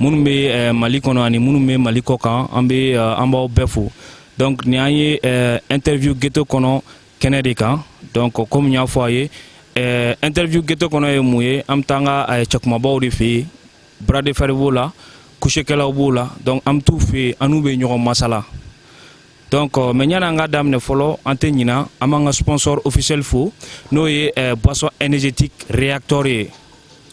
minnu bɛ eh, mali kɔnɔ ani minnu bɛ mali kɔ kan an bɛ eh, an b'aw bɛɛ fo donc nin an ye eh, interview geto kɔnɔ kɛnɛ de kan donc komi n y'a fɔ a ye interview geto kɔnɔ ye mun ye an bɛ taa an ka cɛkumabaw de fɛ yen bras de fer b'o la kusekɛlaw b'o la donc an bɛ t'u fɛ yen an n'u bɛ ɲɔgɔn masala Donc euh, mais yanni an ka daminɛ fɔlɔ an tɛ ɲina an b'an ka sponsor officiel fo n'o ye euh, boisson énergétique réacteur ye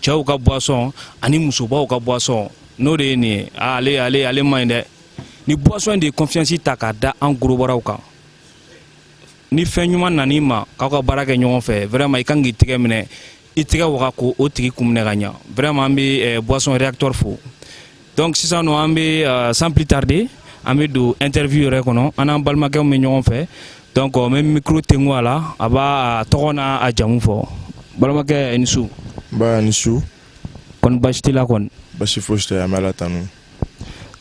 cɛw ka boisson ani musobaw ka boisson n'o de ye nin ye ah, ale ale ale man ɲi dɛ nin boisson de ye confiance ta k'a da an gorobaraw kan ni fɛn ɲuman nan'i ma k'aw ka baara kɛ ɲɔgɔn fɛ vraiment i kan k'i tɛgɛ minɛ i tɛgɛ waga k'o tigi kun minɛ ka ɲa vraiment an bɛ eh, boisson réacteur fo donc sisan nɔ an bɛ euh, sans plus tarder an bɛ don interview yɛrɛ kɔnɔ an n'an balimakɛ bɛ ɲɔgɔn fɛ donc n bɛ micro tengu a la a b'a tɔgɔ n'a jamu fɔ balimakɛ i ni su. nba i ni su. kɔni basi t'i la kɔni. basi fosi tɛ an bɛ ala tanu.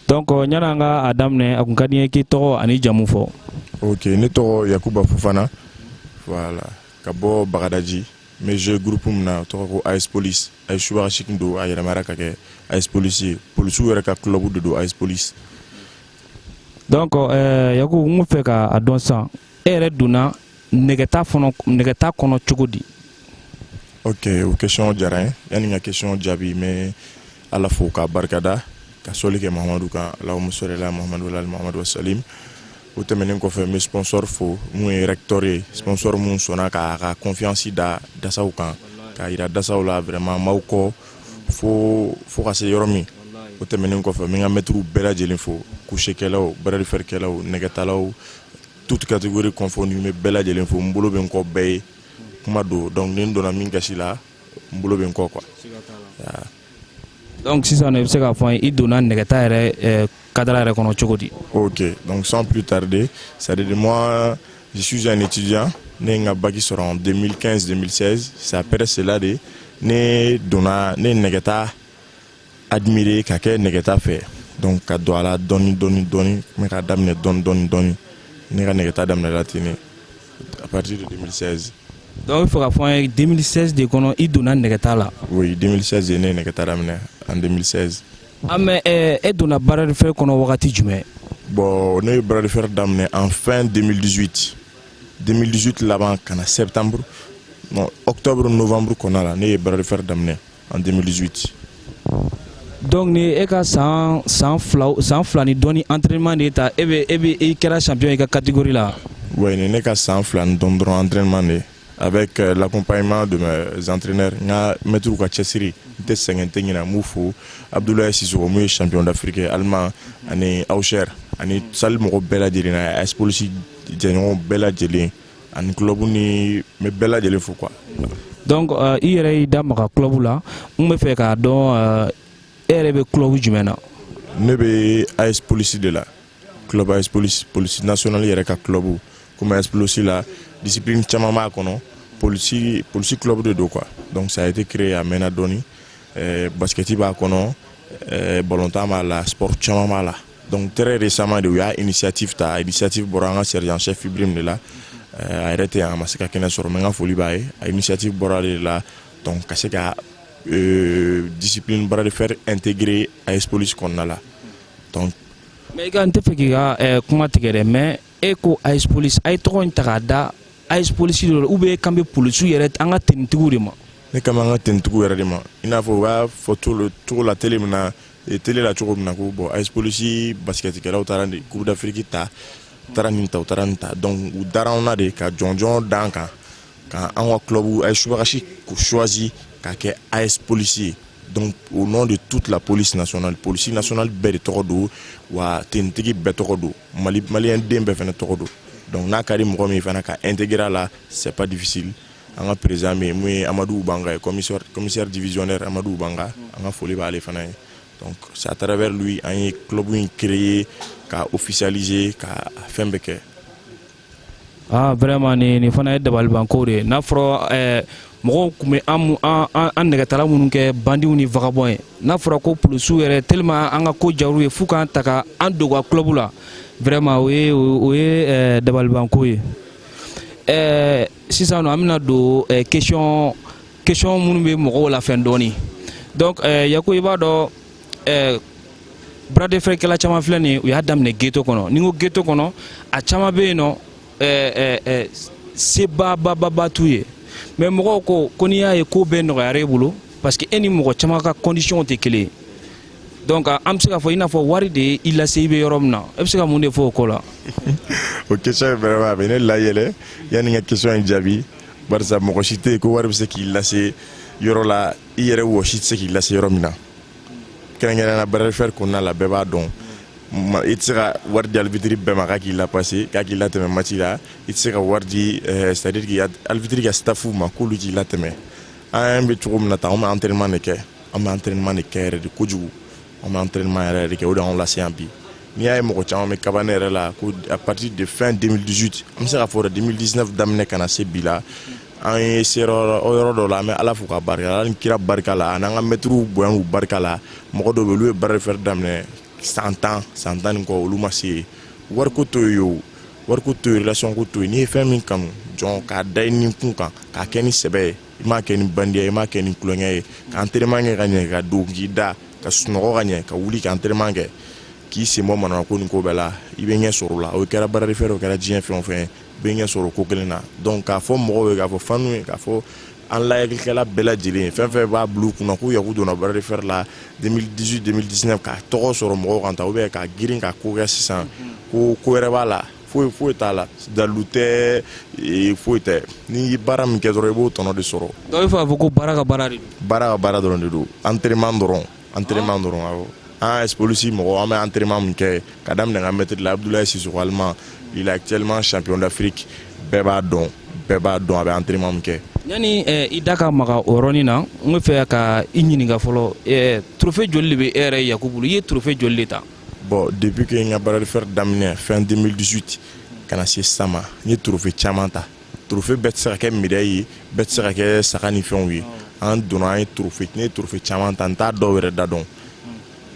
donc euh, yanni an ka a daminɛ a kun ka di n ye k'i tɔgɔ an'i jamu fɔ. ok ne tɔgɔ yakuba fofana voilà ka bɔ bagadaji. n bɛ jouer groupe min na tɔgɔ ko AS Police a ye subaga seegin don a yɛlɛmara ka kɛ AS Police ye polisiw yɛrɛ ka club de don AS Police donc euh, Yakuba n fɛ ka a dɔn sisan e yɛrɛ donna nɛgɛta fɔnɔ nɛgɛta kɔnɔ cogo di ok o question diyara n ye yanni n ka question jaabi n bɛ ala fo k'a barikada ka sɔli kɛ mahamadu kan allahumma salli ala mahamadu wa ala mahamadu wa sallim o tɛmɛnen kɔfɛ n bɛ sponsor fo min ye réacteur ye sponsor min sɔnna k'a ka confiance da dasaw kan k'a jira dasaw la vraiment n b'aw kɔ fo fo ka se yɔrɔ min o tɛmɛnen kɔfɛ n bɛ n ka mɛtiriw bɛɛ lajɛlen fo kusekɛlaw bras de fer kɛlaw nɛgɛtalaw toute catégorie confondue n bɛ bɛɛ lajɛlen fo n bolo bɛ n kɔ bɛɛ ye kuma don donc ni n donna min gasi la n bolo bɛ n kɔ quoi Donc sisan i bɛ se k'a fɔ an ye i donna nɛgɛta yɛrɛ eh, kadara yɛrɛ kɔnɔ cogo di Ok, donc sans plus tarder, c'est à dire moi, je suis un étudiant, ne ye n ka baki sɔrɔ en 2015-2016, c'est après cela de ne donna ne ye nɛgɛta admirer ka kɛ nɛgɛta fɛ donc ka don a la dɔɔni dɔɔni dɔɔni n bɛ k'a daminɛ dɔɔni dɔɔni dɔɔni ne ka nɛgɛta daminɛna ten ne A partir de 2016. Donc, il faut k'a fɔ an ye 2016 de kɔnɔ i donna nɛgɛta la. Oui, 2016 de ne ye nɛgɛta daminɛ en 2016. Ah mais eh, e donna bras de fer kɔnɔ wagati jumɛn? Bon, ne ye bras de fer daminɛ en fin 2018. 2018 laban ka na septembre, non, octobre, novembre kɔnɔna la ne ye bras de fer daminɛ. an denmisɛnninti dɔnku ni e ka san san san fila ni dɔnni an terirma de ta e bɛ e bɛ e kɛra sanp i ka katikori la wa nin ne ka san fila ni dɔn dɔrɔn an terirma de a bɛ kɛ lakɔnpɲuman don zantrɛnɛre n ka mɛtu ka cɛsiri n tɛ sɛgɛn tɛ ɲɛna b'u fo abudula sisomu ye sanpy dafirike ali ani aw sera ani sali mɔgɔ bɛɛ lajɛlen na a polisi jɛɲɔgɔn bɛɛ lajɛlen ani club ni n bɛ bɛɛ lajɛlen fo quoi. donc uh, i yɛrɛ y'i da maga club la n bɛ fɛ k'a dɔn uh, e yɛrɛ bɛ club jumɛn na. ne bɛ AS Police de la club AS Police police nationale yɛrɛ ka club komi AS Police la discipline caman b'a kɔnɔ police police club de don quoi donc ça a été créé a mɛnna dɔɔni ɛɛ eh, basikɛti b'a kɔnɔ ɛɛ eh, balontan b'a la sport caman b'a la. Donc très récemment de u y'a initiative ta initiative bɔra an ka sergent chef Ibrahim de la euh, a yɛrɛ tɛ yan a ma se ka kɛnɛ sɔrɔ mais n ka foli b'a ye a initiative bɔra de la donc ka se ka euh, discipline bras de fer intégrer AS Police kɔnɔna la donc mais i ka n tɛ fɛ k'i ka euh, kuma tigɛ dɛ mais e ko AS Police a ye tɔgɔ in ta k'a da AS Police de la ou bien e kan bɛ polisiw yɛrɛ an ka tenitigiw de ma ne kan b'an ka tenitigiw yɛrɛ de ma i n'a fɔ u b'a fɔ cogo la tele min na e tele la cogo min na ko bon AS Police basikɛtikɛlaw taara de coupe d'afrique ta u taara nin ta u taara nin ta donc u dara anw na de ka jɔnjɔn d'an kan ka an ka club AS subagasi choisi ka kɛ AS Police ye donc au nom de toute la police nationale police nationale bɛɛ de tɔgɔ don wa tenitigi bɛɛ tɔgɔ don mali maliyɛn den bɛɛ fana tɔgɔ don donc n'a ka di mɔgɔ min fana ka intégrer a la c'est pas difficile an ka président min mun ye Amadou Banga ye commissaire divisionnaire Amadou Banga an ka foli b'ale fana ye donc c'est à travers lui an ye club in créer ka officialiser ka fɛn bɛɛ kɛ aa vraiment nin nin fana ye dabalibanko de ye n'a fɔra eh, mɔgɔw tun bɛ an nɛgɛtala minnu kɛ bandiw ni vagabond ye n'a fɔra ko polisiw yɛrɛ tellement an ka ko diyar'u ye f'u k'an ta ka an don u ka club la vraiment o ye eh, dabalibanko ye ɛɛ sisan nɔ an bɛna don ɛɛ question question minnu bɛ mɔgɔw la fɛn dɔɔni donc ɛɛ Yaku i b'a dɔn ɛɛ bras de fer kɛla caman filɛ nin ye u y'a daminɛ geto kɔnɔ ni n ko geto kɔnɔ a caman bɛ yen nɔ ɛɛ ɛɛ ɛɛ sebaba t'u ye mais mɔgɔw ko ko n'i y'a ye ko bɛɛ nɔgɔyara e bolo parce que e ni mɔgɔ caman ka conditions tɛ kelen ye. donc an bɛ se k'a fɔ i n'a fɔ wari de ye i lase i bɛ yɔrɔ min na e bɛ se ka mun de fɔ o ko la. o question ye vraiment a bɛ ne layɛlɛ yanni n ka question in jaabi barisa mɔgɔ si tɛ yen ko wari bɛ se k'i lase yɔrɔ la i yɛrɛ wɔsi tɛ se k'i lase yɔrɔ min na kɛrɛnkɛrɛnnenya la bras de fer kɔnɔna la bɛɛ b'a dɔn i tɛ se ka wari di arbitre bɛɛ ma k'a k'i lapase k'a k'i latɛmɛ match la i tɛ se ka wari di eh, c'est à dire que arbitre ka staff ma k'olu k'i latɛmɛ an bɛ cogo min na tan an bɛ entraînement de kɛ an bɛ entraînement de kɛ yɛrɛ de kojugu an bɛ entraînement yɛrɛ de kɛ o de y'anw lase yan bi n'i y'a ye mɔgɔ caman bɛ kaba ne yɛrɛ la ko à partir de fin 2018 an bɛ se k'a fɔ 2019 daminɛ ka na se bi la an yɛrɛ sera yɔrɔ dɔ la an bɛ ala fo ka barika ala ni kira barika la an'an ka mɛtiriw bonya k'u barika la mɔgɔ dɔw bɛ olu ye bras de fer daminɛ san tan san tan ni kɔ olu ma se yen wariko t'o ye o wariko t'o ye relation ko t'o ye n'i ye fɛn min kanu dɔrɔn k'a da i ni kun kan k'a kɛ ni sɛbɛ ye i m'a kɛ ni bandiya i m'a kɛ ni tulonkɛ ye ka entraînement kɛ ka ɲɛ ka don k'i da ka sunɔgɔ ka ɲɛ ka wuli ka entraînement kɛ k'i sen bɔ manamana ko nin ko bɛɛ la i bɛ ɲɛ sɔrɔ o la o kɛra bras de fer o kɛra diɲɛ fɛn o fɛn ye i bɛ ɲɛ sɔrɔ ko kelen na donc k'a fɔ mɔgɔw ye k'a fɔ fanw ye k'a fɔ an lajɛlikɛla bɛɛ lajɛlen ye fɛn fɛn b'a bila u kun na ko yaku donna bras de fer la 2018 2019 ka tɔgɔ sɔrɔ mɔgɔw kan tan ou bien ka girin ka ko kɛ sisan ko ko wɛrɛ b'a la foyi foyi t'a la dalu tɛ e, foyi tɛ n'i ye baara min kɛ dɔrɔn i b'o tɔnɔ de sɔrɔ donc i b'a fɛ k'a fɔ ko baara ka baara de don baara ka baara dɔrɔn de don entraînement dɔrɔn entraînement ah. dɔrɔn awɔ an AS police mɔgɔ an bɛ entraînement min kɛ ka daminɛ n ka mɛtiri la abudulayi sisoko alima il est actuellement champion d'afrique bɛɛ b'a dɔn bɛɛ b'a dɔn a bɛ entraînement min kɛ yanni eh, i da ka maga o yɔrɔnin na n bɛ fɛ ka i ɲininka fɔlɔ eh, trophée joli de bɛ e yɛrɛ yaku bolo i ye trophée joli de ta bon depuis que n ka bras de fer daminɛ fin 2018 ka na se sisan ma n ye trophée caman ta trophée bɛɛ tɛ se ka kɛ médaille ye bɛɛ tɛ se ka kɛ saga ni fɛnw ye an donna an ye trophée ne ye trophée caman ta n t'a dɔw yɛrɛ da dɔn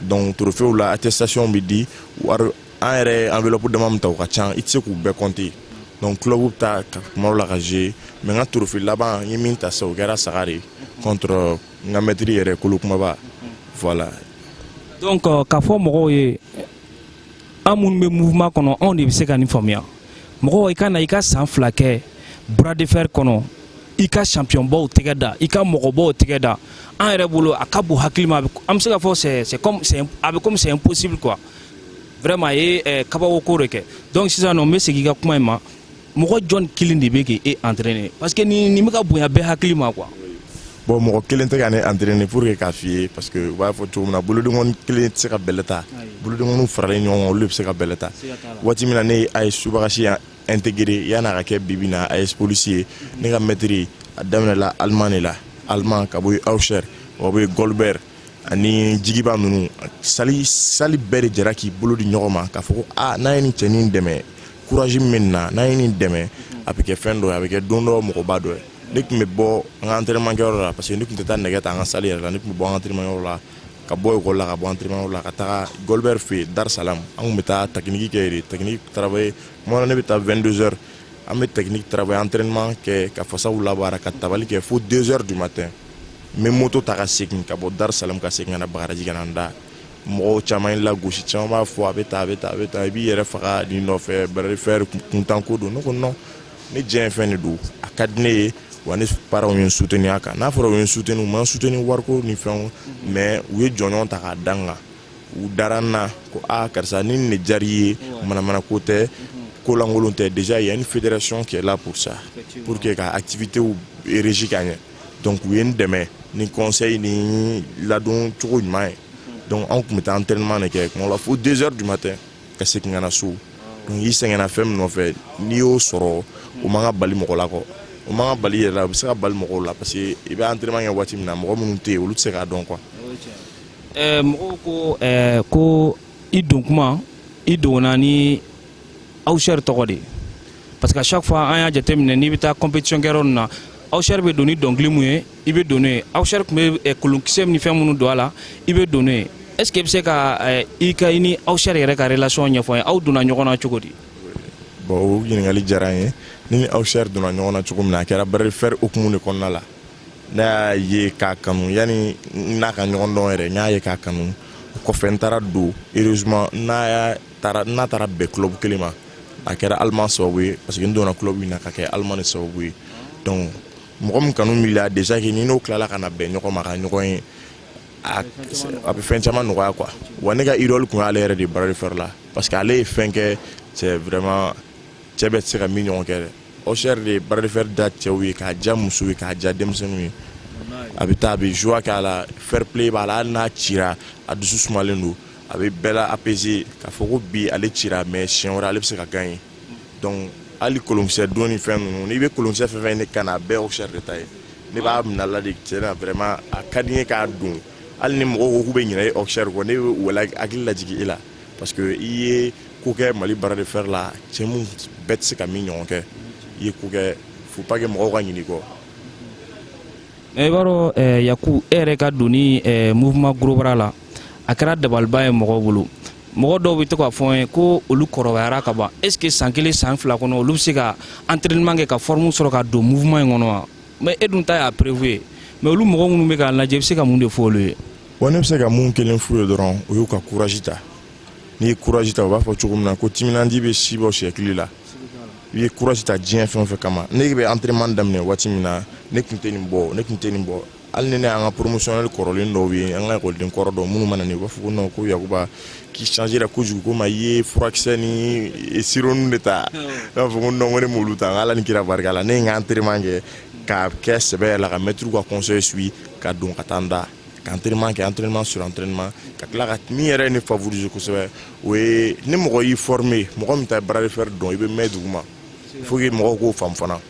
donc trophéew la attestation bɛ di wari an yɛrɛ enveloppe dama min ta u ka ca i tɛ se k'u bɛɛ compter donc club bɛ taa kuma dɔ la ka jouer mais n ka trophée laban n ye min ta sisan o kɛra saga de ye contre n ka mɛtiri yɛrɛ kolo kumaba voilà donc euh, k'a fɔ mɔgɔw ye an minnu bɛ mouvement kɔnɔ anw de bɛ se ka nin faamuya mɔgɔw i ka na i ka san fila kɛ bras de fer kɔnɔ i ka championnbaw tɛgɛ da i ka mɔgɔbaw tɛgɛ da an yɛrɛ bolo a ka bon hakili ma an bɛ se ka fɔ c'est c'est comme c'est a bɛ comme c'est impossible quoi vraiment a ye eh, kabako ko de kɛ donc sisan nɔ n bɛ segin i ka kuma in ma mɔgɔ jɔn kelen de bɛ k'e e entraîner parce que nin nin bɛ ka bonya bɛɛ hakili ma quoi. bon mɔgɔ kelen tɛ ka ne entraîner pour que k'a f'i ye parce que u b'a fɔ cogo min na bolodengɔni kelen tɛ se ka bɛlɛ ta bolodengɔniw faralen ɲɔgɔn kan olu de bɛ se ka bɛlɛ ta waati min na ne ye AS subagasi intégré yan'a ka kɛ bibi in na AS Police ye ne ka maître a daminɛla Allemand de la Allemand ka bɔ Auxerre o bɛ Goldberg ani jigiba ninnu salle salle bɛɛ de jɛra k'i bolo di ɲɔgɔn ma k'a fɔ ko aa n'a ye nin cɛnin dɛmɛ courage min na n'a ye nin dɛmɛ a bɛ kɛ fɛn dɔ a bɛ kɛ don dɔ mɔgɔba dɔ ye ne tun bɛ bɔ an ka entraînement kɛyɔrɔ la parce que ne tun tɛ taa nɛgɛ ta an ka salle yɛrɛ la ne tun bɛ bɔ an ka entraînement yɔrɔ la ka bɔ école la ka bɔ entraînement yɔrɔ la ka taa Goldberg fɛ yen Dar Salam an tun bɛ taa technique kɛ yen technique travailler moi ne bɛ taa vingt-deux heures an bɛ technique travailler entraînement kɛ ka fasaw labaara ka tabali kɛ fo deux heures du matin n bɛ moto ta ka segin ka bɔ Dar Salam ka segin ka na Bagadaji ka na n da mɔgɔw caman ye lagosi caman b'a fɔ a bɛ tan i b'i yɛrɛ faga nin nɔfɛ bras de fer kuntanko don ne ko non ne diyanye fɛn de don a ka di ne ye wa ne parents ye n soutenir a kan n'a fɔra u ye n soutenir u ma n soutenir wariko ni fɛnw mais u ye jɔnjɔn ta k'a da n kan u dara n na ko a karisa ni nin de diyar'i ye manamana ko tɛ ko lankolon tɛ déjà il y a une fédération qui est là pour ça pour que ka activités régie ka ɲɛ donc u ye n dɛmɛ ni conseil ni ladon cogo ɲuman ye donc anw tun bɛ taa entraînement de kɛ kuma la fo deux heures du matin ka segin ka na so donc i sɛgɛnna fɛn min nɔfɛ n'i y'o sɔrɔ o man ka bali mɔgɔ la kɔ o man ka bali yɛrɛ la o bɛ se ka bali mɔgɔw la parce que i bɛ entraînement kɛ waati min na mɔgɔ minnu tɛ yen olu tɛ se k'a dɔn quoi. mɔgɔw ko ko i don kuma i donna ni Auxerre tɔgɔ de parce que chaque fois an y'a jateminɛ n'i bɛ taa compétition kɛyɔrɔ ninnu na Auxerre bɛ don ni dɔnkili min ye i bɛ don n'o ye Auxerre tun bɛ eh, kolonkisɛ ni fɛn minnu don a la i bɛ don n'o ye est ce que i bɛ se ka eh, i ka i ni Auxerre yɛrɛ ka relation ɲɛfɔ an ye aw donna ɲɔgɔn na cogo di. bon o ɲininkali diyara n ye ne ni Auxerre donna ɲɔgɔn na cogo min na a kɛra bras de fer hukumu de kɔnɔna la ne y'a ye k'a kanu yanni n'a ka ɲɔgɔn dɔn yɛrɛ n y'a ye k'a kanu o kɔfɛ n taara don heureusement n'a y'a taara n'a taara bɛn club kelen ma a kɛra Allemand sababu ye parce que n donna club min na ka kɛ Allemand de sababu ye donc mɔgɔ min kanu b'i la déjà que ni n'o tilala ka na bɛn ɲɔgɔn ma ka ɲɔgɔn ye a bɛ fɛn caman nɔgɔya quoi wa ne ka idole tun y'ale yɛrɛ de bras de fer la parce que ale ye fɛn kɛ c'est vraiment cɛ bɛɛ tɛ se ka min ɲɔgɔn kɛ dɛ Auxerre de ye bras de fer diya cɛw ye k'a diya musow ye k'a diya denmisɛnninw ye a bɛ taa a bɛ joie k'a la fair play b'a la hali n'a cira a dusu sumalen don a bɛ bɛɛ la apaiser k'a fɔ ko bi ale cira mais siɲɛ wɛrɛ ale bɛ se ka gagner donc hali kolonkisɛ don ni fɛn ninnu n'i bɛ kolonkisɛ fɛn fɛn ne kan na a bɛɛ ɔsɛri de ta ye ne b'a minala de tiɲɛ na vraiment a ka di n ye k'a don hali ni mɔgɔw ko k'u bɛ ɲinɛ e ɔsɛri kɔ ne bɛ u la hakili lajigin e la parce que i ye ko kɛ mali bras de fer la cɛ mun bɛɛ tɛ se ka min ɲɔgɔn kɛ i ye ko kɛ faut pas que mɔgɔw ka ɲinɛ i kɔ i b'a dɔn yaku e yɛrɛ ka donni mouvement gros bras la a kɛra dabaliba ye mɔgɔw bolo mɔgɔ dɔw bɛ to k'a fɔ n ye ko olu kɔrɔbayara ka ban est ce que san kelen san fila kɔnɔ olu bɛ se ka entraînement kɛ ka forme sɔrɔ ka don mouvement in kɔnɔ wa mais e dun ta y'a preuve ye mais olu mɔgɔ minnu bɛ k'a lajɛ i bɛ se ka mun de fɔ olu ye. wa ne bɛ se ka mun kelen f'u ye dɔrɔn o y'u ka courage ta n'i ye courage ta u b'a fɔ cogo min na ko timinandi bɛ si bɔ siyɛkili la i ye courage ta diɲɛ fɛn o fɛn kama ne bɛ entraînement daminɛ waati min na ne tun tɛ nin bɔ ne tun tɛ nin bɔ hali ni ne y'an ka promotionnel kɔrɔlen dɔw ye an ka ekɔliden kɔrɔ dɔw minnu mana na u b'a fɔ ko non ko yakuba k'i changera kojugu ko ma i ye furakisɛ ni sirop de ta ne b'a fɔ ko non ko ne m'olu ta ala ni kira barika la ne ye n ka entraînement kɛ k'a kɛ sɛbɛ la ka mɛtiriw ka conseil suit ka don ka taa n da ka entraînement kɛ entraînement sur entraînement ka tila ka min yɛrɛ ye ne favoriser kosɛbɛ o ye ni mɔgɔ y'i former mɔgɔ min tɛ bras de fer dɔn i bɛ mɛn duguma faut que mɔgɔw k'o faamu fana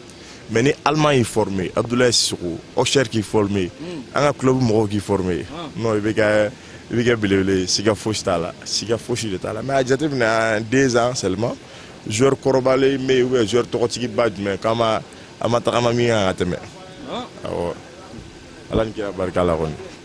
mais ni allemand y'i former abdoulaye sisoko ɔsɛri k'i former hmm. an ka club mɔgɔw k'i former ah. non i bɛ kɛ i bɛ kɛ belebele ye siga fosi t'a la siga fosi de t'a la mais a jateminɛ en deux ans seulement joueur kɔrɔbalen bɛ yen ou bien joueur tɔgɔtigiba jumɛn k'an ma an ma tagama min kan ka tɛmɛ ah. awɔ ala ni kira barika la kɔni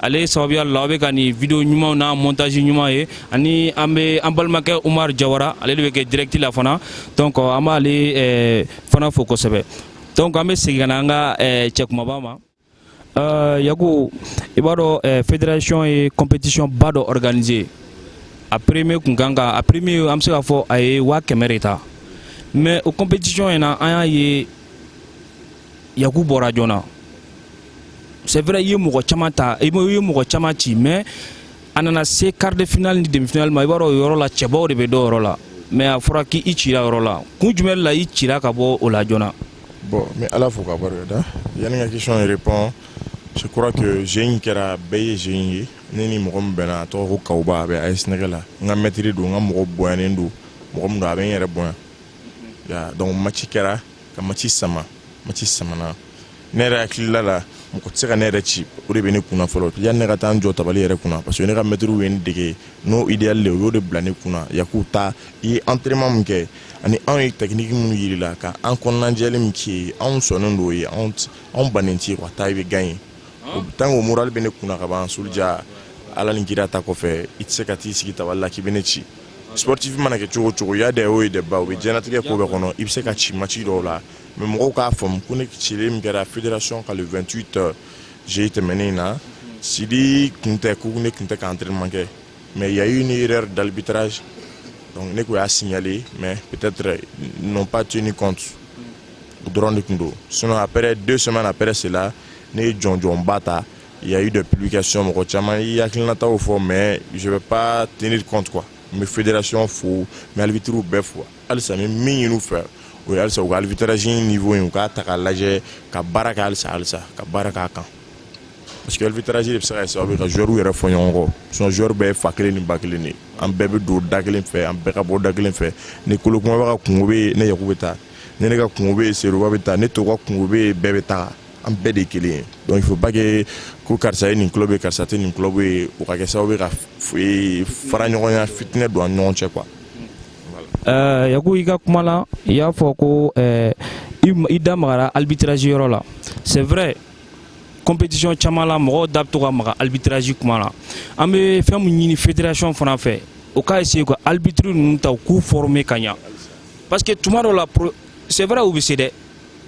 ale sababuya la aw bɛ ka nin video ɲumanw n'a montage ɲuman ye ani an bɛ an balimakɛ Umar Jawara ale de bɛ kɛ direct la fana donc an b'ale eh, fana fo kosɛbɛ donc an bɛ segin ka na an ka eh, cɛ kumaba ma eh, Yaku i b'a dɔn fédération ye compétition ba dɔ organiser a premier kun kan ka a premier an bɛ se k'a fɔ a ye waa kɛmɛ de ta mais o compétition in na an y'a ye yaku bɔra joona c'est vrai i ye mɔgɔ caman ta i ye mɔgɔ caman ci mais a nana se quart de finale ni demi finale ma i b'a dɔn o yɔrɔ la cɛbaw de bɛ don o yɔrɔ la mais a fɔra k'i cira o yɔrɔ la kun jumɛn la i cira ka bɔ o la joona bon n bɛ ala fo k'a barikada yanni ka question in répond je crois que jeu in kɛra bɛɛ ye jeu in ye ne ni mɔgɔ min bɛnna a tɔgɔ ko kawuba a bɛ as nɛgɛ la n ka mɛtiri don n ka mɔgɔ bonyanen don mɔgɔ min don a bɛ n yɛrɛ bonya donc match kɛra ka match sama match samana ne yɛrɛ hakilila la mɔgɔ tɛ se ka ne yɛrɛ ci o de bɛ ne kunna fɔlɔ yanni ne ka taa n jɔ tabali yɛrɛ kunna parce que ne ka mɛtiriw ye ne dege n'o idéal de o y'o de bila ne kunna Yaku taa i ye entraînement min kɛ ani anw ye technique minnu yir'i la ka an kɔnɔnajɛli min k'i ye anw sɔnnen don o ye anw anw bannen t'i ye quoi taa i bɛ gagner o tant que o moral bɛ ne kunna ka ban Sulja ala ni kira ta kɔfɛ i tɛ se ka t'i sigi tabali la k'i bɛ ne ci sportif mana kɛ cogo cogo y a des hauts et des bas o bɛ diɲɛnatigɛ ko bɛɛ kɔnɔ i bɛ se ka ci match dɔw la mais mɔgɔw k'a faamu ko ne cilen min kɛra fédération ka le 28 euh, juillet tɛmɛnen in na Sidi tun tɛ ko ne tun tɛ ka entraînement kɛ mais il y a eu une erreur d'arbitrage donc ne tun y'a signaler mais peut-être euh, ils n'ont pas tenu compte dɔrɔn de tun don sinon après deux semaines après cela ne ye jɔnjɔnba ta Il y a eu des publications mɔgɔ caman y'u hakilinataw fɔ mais je vais pas tenir compte quoi n bɛ fédération fo n bɛ arbitres bɛɛ fo halisa n bɛ min ɲin'u fɛ o ye halisa u ka arbitrage niveau in u k'a ta k'a lajɛ ka baara kɛ halisa halisa ka baara k'a kan parce que arbitrage de bɛ se ka kɛ sababu ye ka joueurs yɛrɛ fɔ ɲɔgɔn kɔ sinon joueurs bɛɛ ye fa kelen ni ba kelen de ye an bɛɛ bɛ don da kelen fɛ an bɛɛ ka bɔ da kelen fɛ ni kolo kumaba ka kunko bɛ yen ne yaku bɛ taa ni ne ka kunko bɛ yen seruba bɛ taa ni toba ka kunko bɛ yen bɛɛ bɛ taa an bɛɛ de kelen ye donc il faut pas que ko karisa ye nin club ye karisa tɛ nin club ye o ka kɛ sababu ye ka fara ɲɔgɔnya fitinɛ don an ɲɔgɔn cɛ quoi Euh, yaku i ka kuma la i y'a fɔ ko euh, i da magara arbitrage yɔrɔ la c'est vrai compétition caman la mɔgɔw da bɛ to ka maga arbitrage kuma la an bɛ fɛn min ɲini fédération fana fɛ o ka essayer ka arbitre ninnu ta u k'u former ka ɲa parce que tuma dɔ la c'est vrai u bɛ se dɛ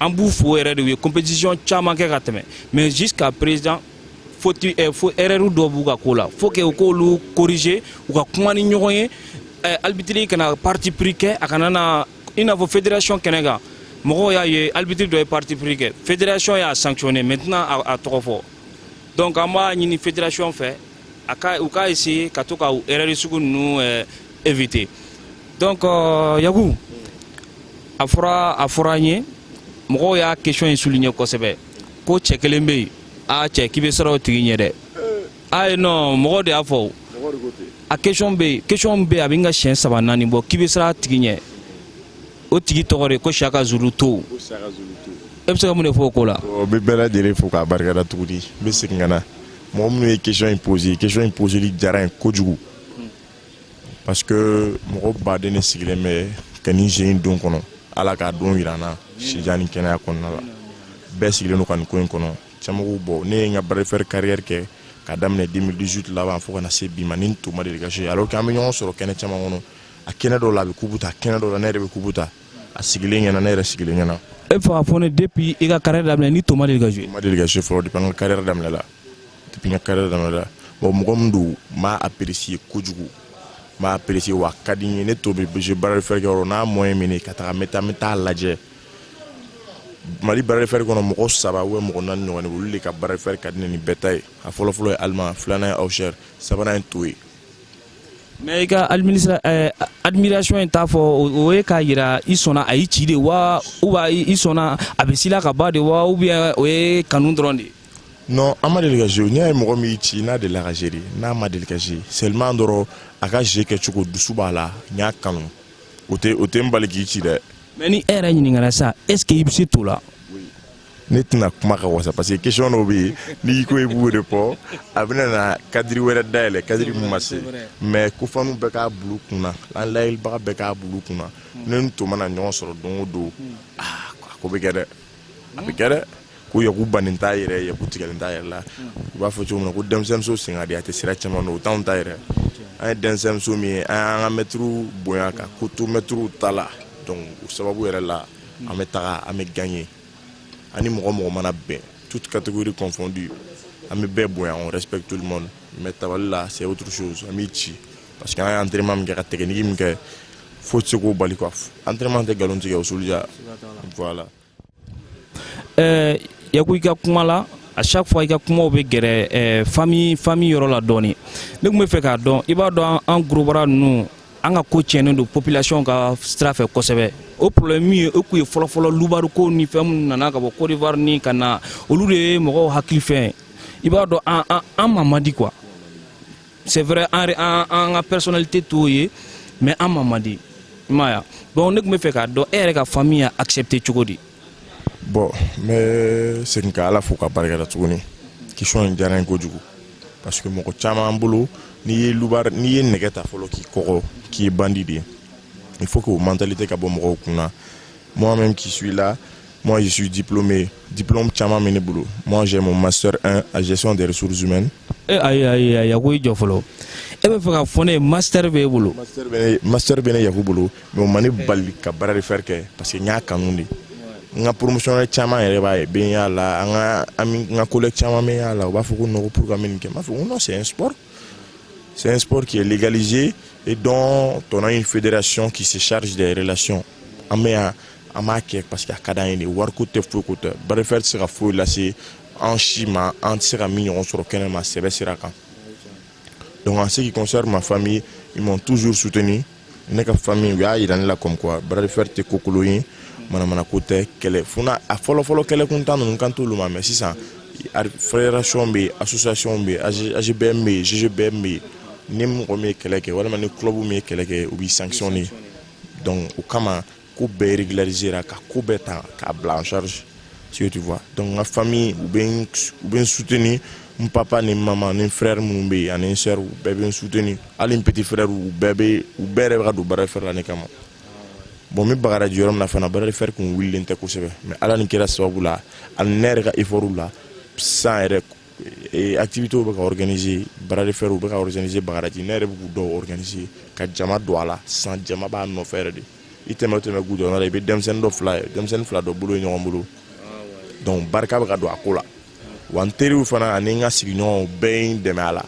an b'u fo yɛrɛ de u ye compétition caman kɛ ka tɛmɛ mais jusqu'à présent foti eh, fo erreur dɔ b'u ka ko la faut que u k'olu corriger u ka kuma ni ɲɔgɔn ye eh, arbitre kana parti pris kɛ a kana na i n'a fɔ fédération kɛnɛ kan mɔgɔw y'a ye arbitre dɔ ye parti pris kɛ fédération y'a sanctionner mais n tɛna a tɔgɔ fɔ donc an b'a ɲini fédération fɛ a ka u ka essayer ka to ka erreur sugu ninnu eh, éviter donc euh, Yaku a fɔra a fɔra an ye mɔgɔw y'a question in souligner kosɛbɛ ko cɛ kelen bɛ yen a cɛ k'i bɛ siran o tigi ɲɛ dɛ ayi non mɔgɔw de y'a fɔ a question bɛ yen question bɛ yen a bɛ n ka siɲɛ saba naani bɔ k'i bɛ siran a tigi ɲɛ o tigi tɔgɔ de ko saka zulu to e bɛ se ka mun de fɔ o ko la n bɛ bɛɛ lajɛlen fo k'a barika da tuguni n bɛ segin ka na mɔgɔ minnu ye question in pose question in poseli diyara n ye kojugu parce que mɔgɔ baden de sigilen bɛ ka nin jeu in don kɔnɔ ala k'a don jira n na sijan ni kɛnɛya kɔnɔna la bɛɛ sigilen don ka nin ko in kɔnɔ camanw bɔ ne ye n ka bras de fer carrière kɛ ka daminɛ 2018 laban fo ka na se bi ma ni n tɔ ma deli ka jouer alors que an bɛ ɲɔgɔn sɔrɔ kɛnɛ caman kɔnɔ a kɛnɛ dɔw la a bɛ kubu ta kɛnɛ dɔw la ne yɛrɛ bɛ kubu ta a sigilen ɲɛna ne yɛrɛ sigilen ɲɛna e fɛ ka fɔ ne depuis i ka carrière daminɛ ni to ma deli ka jouer ma deli ka jouer fɔlɔ depuis n ka carrière daminɛ la depuis n ka carrière daminɛ la bon mɔgɔ min don n b'a apprécier kojugu n b'a apprécier wa a ka di n ye ni to bɛ jeu bras de fer kɛ yɔrɔ n'a moyen min ne ka taga n bɛ taa n bɛ taa lajɛ mali bras de fer kɔnɔ mɔgɔ saba ou mɔgɔ naani ɲɔgɔn de olu de ka bras de fer ka di ne ni bɛɛ ta ye a fɔlɔfɔlɔ ye allemand filanan ye auxerre sabanan ye to ye mais i ka eh, admiration in t'a fɔ o ye k'a yira i sɔnna a y'i ci de wa ou bien i sɔnna a bɛ s'i la kaban de wa ou bien o ye kanu dɔrɔn de non an ma deli ka jouer n'i y'a ye mɔgɔ min y'i ci n'a delila ka jouer de n'a ma deli ka jouer seulement dɔrɔn a ka jeu kɛcogo dusu b'a la n y'a kanu o tɛ o tɛ n bali k'i ci dɛ mais ni e yɛrɛ ɲininkara sa est ce que i bɛ se to la ne tɛna kuma ka wasa parce que question dɔw bɛ yen n'i ko i b'o de fɔ a bɛna na cadre wɛrɛ dayɛlɛ cadre min ma se mais ko fanw bɛɛ k'a bil'u kun na an lajɛlibaga bɛɛ k'a bil'u kun na ne ni to mana ɲɔgɔn sɔrɔ don o don aa a ko bɛ kɛ dɛ a bɛ kɛ dɛ ko yaku bannen t'a yɛrɛ yaku tigɛlen t'a yɛrɛ la u b'a fɔ cogo min na ko denmisɛnninmuso sen ka di a tɛ sira caman dɔn o t'anw ta yɛrɛ an ye denmisɛnninmuso min ye an y'an ka mɛtiriw bonya ka ko to mɛtiriw ta la donc o sababu yɛrɛ la an bɛ taga an bɛ gagner ani mɔgɔ o mɔgɔ mana bɛn toute catégorie confondue an bɛ bɛɛ bonya on respecte tout le monde mais tabali la c'est autre chose an b'i ci parce que an ye entraînement min kɛ ka technique min kɛ foyi tɛ se k'o bali quoi entraînement tɛ nkalon tigɛ o soldiya voilà. Euh, yaku i ka kuma la à chaque fois i ka kumaw bɛ gɛrɛ famille famille yɔrɔ la dɔɔni ne tun bɛ fɛ k'a dɔn i b'a dɔn an gros bras ninnu an ka ko tiɲɛnen don population ka sira fɛ kosɛbɛ o problème min ye o kun ye fɔlɔfɔlɔ loubard ko ni fɛn minnu nana ka bɔ Côte d'Ivoire ni ka na olu de ye mɔgɔw hakili fɛn i b'a dɔn an an an ma mandi quoi c'est vrai an an an ka personnalité t'o ye mais an ma mandi i m'a ye bon ne tun bɛ fɛ k'a dɔn e yɛrɛ ka famille y'a accepter cogo di Bon n bɛ segin ka Ala fo ka barika da tuguni question in diyara n ye kojugu parce que mɔgɔ caman bolo n'i ye loubard n'i ye nɛgɛ ta fɔlɔ k'i kɔgɔ k'i ye bandi de ye il faut que o mentalité ka bɔ mɔgɔw kun na moi même qui suis là moi je suis diplômé diplôme caman bɛ ne bolo moi j'ai mon master 1 à gestion des ressources humaines e ayi ayi ayi a ko i jɔ fɔlɔ e bɛ fɛ ka fɔ ne ye master bɛ e bolo master bɛ ne master bɛ ne yaku bolo mais o ma n bali ka bras de fer kɛ parce que n y'a kanu de n ka promotion caman yɛrɛ b'a ye bɛ y'a la an ka an ka collègue caman bɛ y'a la u b'a fɔ ko non ko pour ka min kɛ n b'a fɔ ko non c'est un sport c'est un sport qui est légalisé et dont on a une fédération qui se charge des relations an bɛ yan an b'a kɛ parce que a ka d'an ye de wariko tɛ foyi ko tɛ bras de fer tɛ se ka foyi lase an si ma an tɛ se ka min ɲɔgɔn sɔrɔ kɛnɛma sɛbɛ sira kan Donc en ce qui concerne ma famille, ils m'ont toujours soutenu. Ne ka famille u y'a yira ne la comme quoi bras de fer tɛ kokolon ye manamanako tɛ kɛlɛ fana a fɔlɔfɔlɔ kɛlɛ kuntan ninnu kan t'olu ma mais sisan fédération bɛ yen association bɛ yen AGBM bɛ yen GGBM bɛ yen ni mɔgɔ min ye kɛlɛ kɛ walima ni club min ye kɛlɛ kɛ u b'i sanctionner donc o kama ko bɛɛ régularisera ka ko bɛɛ ta k'a bila en charge si tu vois donc n ka famille u bɛ n u bɛ n soutenir n papa ni mama ni frère minnu bɛ yen ani n sœur u bɛɛ bɛ n soutenir hali n petit frère u bɛɛ bɛ u bɛɛ yɛrɛ bɛ ka don bras de fer la ne kama bon n bɛ bagaraji yɔrɔ min na fana bras de fer kun wulilen tɛ kosɛbɛ mais ala ni kira sababu la ani ne yɛrɛ ka effort la san yɛrɛ ee activités bɛ ka organiser bras de fer bɛ ka organiser bagadaji ne yɛrɛ bɛ k'u dɔw organiser ka jama don a la san jama b'a nɔfɛ yɛrɛ de i tɛmɛ o tɛmɛ gudɔrɔn la i bɛ denmisɛnnin dɔ fila ye denmisɛnnin fila dɔ bolo ye ɲɔgɔn bolo donc barika bɛ ka don a ko la wa n teriw fana ani n ka sigiɲɔgɔnw bɛɛ ye n dɛmɛ a la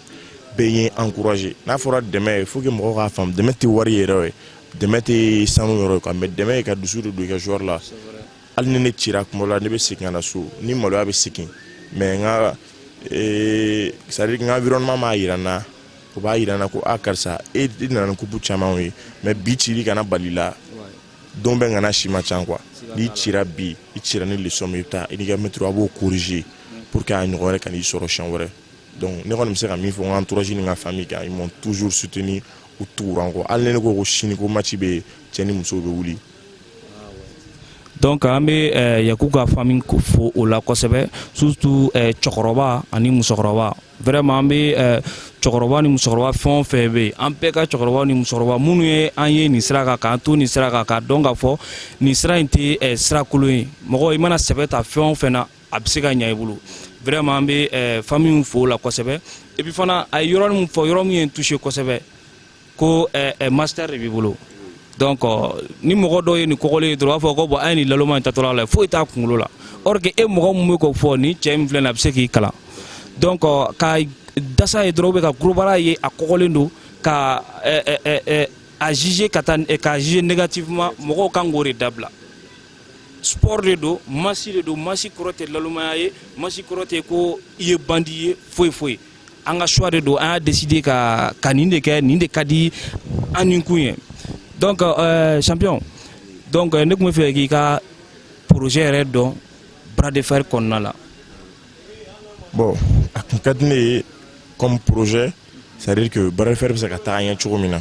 bɛɛ ye n encourager n'a fɔra dɛmɛ il faut que mɔgɔw k'a faamu dɛmɛ tɛ wari yɛrɛ ye dɛmɛ tɛ sanu yɔrɔ ye quoi mais dɛmɛ ye ka dusu de don i ka joueur la hali ni ne cira combat la ne bɛ segin ka na so ni maloya bɛ segin mais n ka eh, c'est-à-dire n ka environnement m'a yira n na u b'a yira n na ko a ah, karisa e i nana ni coupe camanw ye mais bi cili kana bal'i la don bɛɛ ŋana si man ca quoi n'i cira bi i cira ni leçon min i bɛ taa i n'i ka maître a b'o corriger pour que a ɲɔgɔn wɛrɛ kan'i sɔrɔ siɲɛ wɛrɛ donc ne kɔni bɛ se ka min fɔ n ka entourage ni n ka famille kan ils m'ont toujours soutenu u tugura n kɔ hali ni ne ko ko sini ko match bɛ yen cɛ ni muso bɛ wuli donc an bɛ eh, yaku ka famille fo o la kosɛbɛ surtout eh, cɛkɔrɔba ani musokɔrɔba vraiment an bɛ eh, cɛkɔrɔba ni musokɔrɔba fɛn o fɛn bɛ yen an bɛɛ ka cɛkɔrɔba ni musokɔrɔba minnu ye an ye nin sira kan k'an to nin sira kan k'a dɔn k'a fɔ nin sira in tɛ sira kolon ye mɔgɔ i mana sɛbɛ ta fɛn o fɛn na a bɛ se ka ɲɛ i bolo vraiment an bɛ famille fo o la kosɛbɛ et puis fana a ye yɔrɔ min fɔ yɔrɔ min ye n touché kosɛbɛ ko eh, eh, master de b'i bolo donc euh, ni mɔgɔ dɔw ye nin kɔgɔlen ye dɔrɔn u b'a fɔ ko bon a ye nin laloma in taatɔla la foyi t'a kunkolo la or que e mɔgɔ min bɛ k'o fɔ nin cɛ min filɛ nin a bɛ se k'i kalan donc euh, ka dasa ye dɔrɔn bɛ ka gros bras ye a kɔgɔlen don ka eh, a juger ka taa ka juger négativement mɔgɔw kan k'o de dabila sport de don masse de don masse kɔrɔ tɛ lalomaya ye masse kɔrɔ tɛ ko i ye bandi ye foyi foyi an ka choix de don an y'a décider ka ka nin de kɛ nin de ka di an ni kun ye donc euh, champion donc euh, ne tun bɛ fɛ k'i ka projet yɛrɛ dɔn bras de fer kɔnɔna la. bon a tun ka di ne ye comme projet c'est à dire que bras de fer bɛ se ka taa ɲɛ cogo min na.